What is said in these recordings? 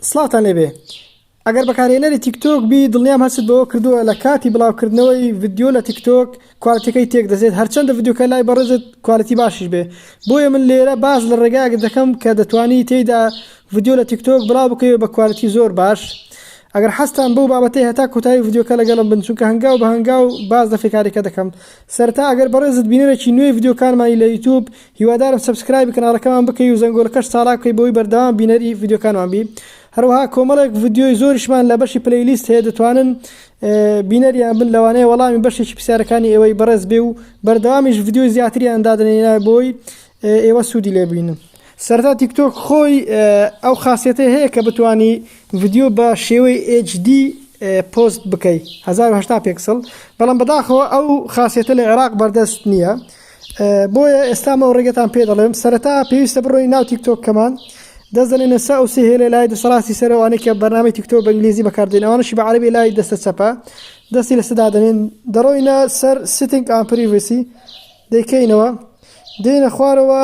سڵاوتان لێبێ ئەگەر بەکارێنەری تیکتۆک بی دڵنیام هەست بەوە کردووە لە کاتی بڵاوکردنەوەی ڤیددیو لە تیکتۆک کوالتەکەی تێک دەزێت هەرچەندە ڤیددیوکە لای بەڕێزت کوالتی باشیش بێ بۆیە من لێرە باز لە ڕێگایەک دەکەم کە دەتوانی تێیدا ڤیددیو لە تیکتۆک بڵاو بکەوێت بە کوالتی زۆر باش ئەگەر حەستان بەو بابەتی هەتا کۆتایی ڤیددیوکە لەگەڵم بن چونکە هەنگاو بە هەنگاو باز دەفێکارێکە دەکەم سەرتا ئەگەر بەڕێزت بینەرێکی نوێی ڤیددیوکانمانی لە یوتوب هیوادارم سەبسکرایبی کەناڵەکەمان بکەی و زەنگۆلەکەش چاڵاک بکەی بەوەی بەردەوام بینەری ڤیدیۆکانمان بی هەروەها کۆمەڵێک ڤیدیۆی زۆریشمان لە بەشی پلەی لیست هەیە دەتوانن بینەریان بن لەوانەیە وەڵامی بەشێکی پرسیارەکانی ئێوەی بەڕێز بێ و بەردەوامیش ڤیدیۆی زیاتریان دادنێنا بۆی ئێوە سوودی لێبینن سەرتا تیکتۆک خۆی ئەو خاصەتی هەیە کە بتانی ڤیددیو بە شێوەی HD پۆست بکەیت 1970 پێکسڵ بەڵام بەداخەوە ئەو خاصەتە لە عێراق بەردەست نییە بۆیە ئێستا مەو ڕێگەتان پێ دەڵێم سەرەتا پێویستە بڕۆی ناو تیکتۆک کەمان دەست دەنێنە سا و سهێ لە لای دەسەڵاتی سەرەوانێک کە بەنامی تیکتۆ بە ئنگلیزی بەکاردێن ئەوانشی بە عربی لای دەستە چەپە دەستی لە سەدا دەنێن دەڕۆینە سەر سیتنگ ئامپریڤسی دەیکەینەوە دێنە خوارەوە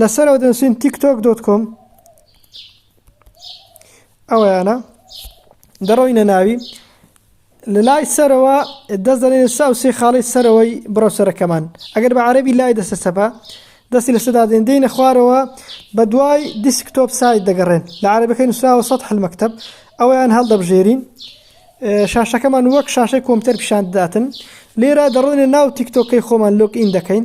لەسەر ئەو دەنووسین تیک تۆک دۆت کۆم ئەوەیانە دەڕۆینە ناوی لە لای سەرەوە دەست دەێن سا و سێ خاڵی سەرەوەی بڕەوسەرەکەمان ئەگەر بە عربی لای دەسە سەپا دەستی لە سەدا دێن دێنە خوارەوە بە دوای دیسکتۆپ سایت دەگەڕێن لە عربەکەی نووسراوە سە حلمەکتب ئەویان هەڵدەبژێرین شاشەکەمان وەک شاشەی کۆمپیوتەر پیشان دەداتن لێرە دەڕۆینە ناو تیکتۆکەی خۆمان لۆک ئین دەکەین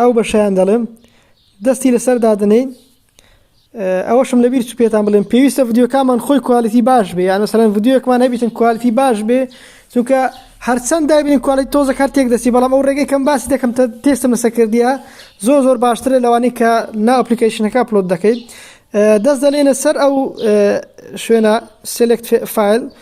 ئەو بەشیان دەڵێم دەستی لەسەر دادنین ئەوەشم لەبیر چ پێتان بڵێم پێویستە ڤیددیوکانمان خۆی کوالتی باش بێ یان مەسەرەن ڤیددیوکمان هەبیتن کوالتی باش بێ چونکە هەرچەند دابین کوالتی تۆزە کار تێک دەستی بەڵام ئەو ڕێگەی کەم باسی دەکەم تێستم لەسە کردیە زۆر زۆر باشترە لەوانی کە نا ئەپلیکیشنەکە پلۆت دەکەیت دەست دەلێنە سەر ئەو شوێنە سلکت فیل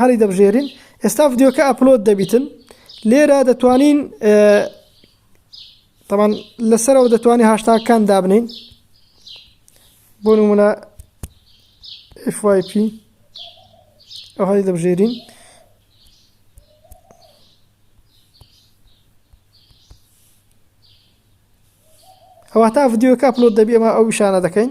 هەڵی دەبژێرین ئێستا ڤیددیوکە ئەپلۆد دەبیتن لێرە دەتوانین تەمان لەسەرەوە دەتوانانی هاشتاکان دابنین بۆ نمونە FYP ئەو هەڵی دەبژێرین ئەوە تا ڤیددیوکە ئەپلۆد دەبی ئەمە ئەو شانە دەکەین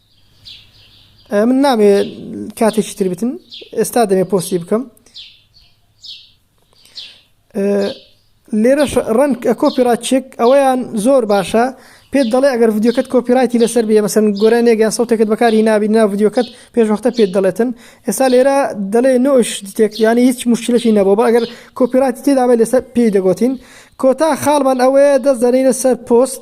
من نامێ کاتێکی تر بتن ئێستا دەمێ پۆستی بکەم لێرەش ڕەنگ کۆپیرا چێک ئەوەیان زۆر باشە پێت دەڵێ ئەگەر ڤیددیوکەت کۆپیرایتی لەسەر بێ مەسن گۆرە نێگەیان سەوتێکت بەکاری نابی ناو ڤیددیوکەت پێشوەختە پێت دەڵێتن ئێستا لێرە دەڵێ نۆش تێکیانی هیچ مشکلەشی نەبوو بە ئەگەر کۆپیراتی تێدابێت لەسەر پێی دەگوتین کۆتا خاڵمان ئەوەیە دەست دەنینە سەر پۆست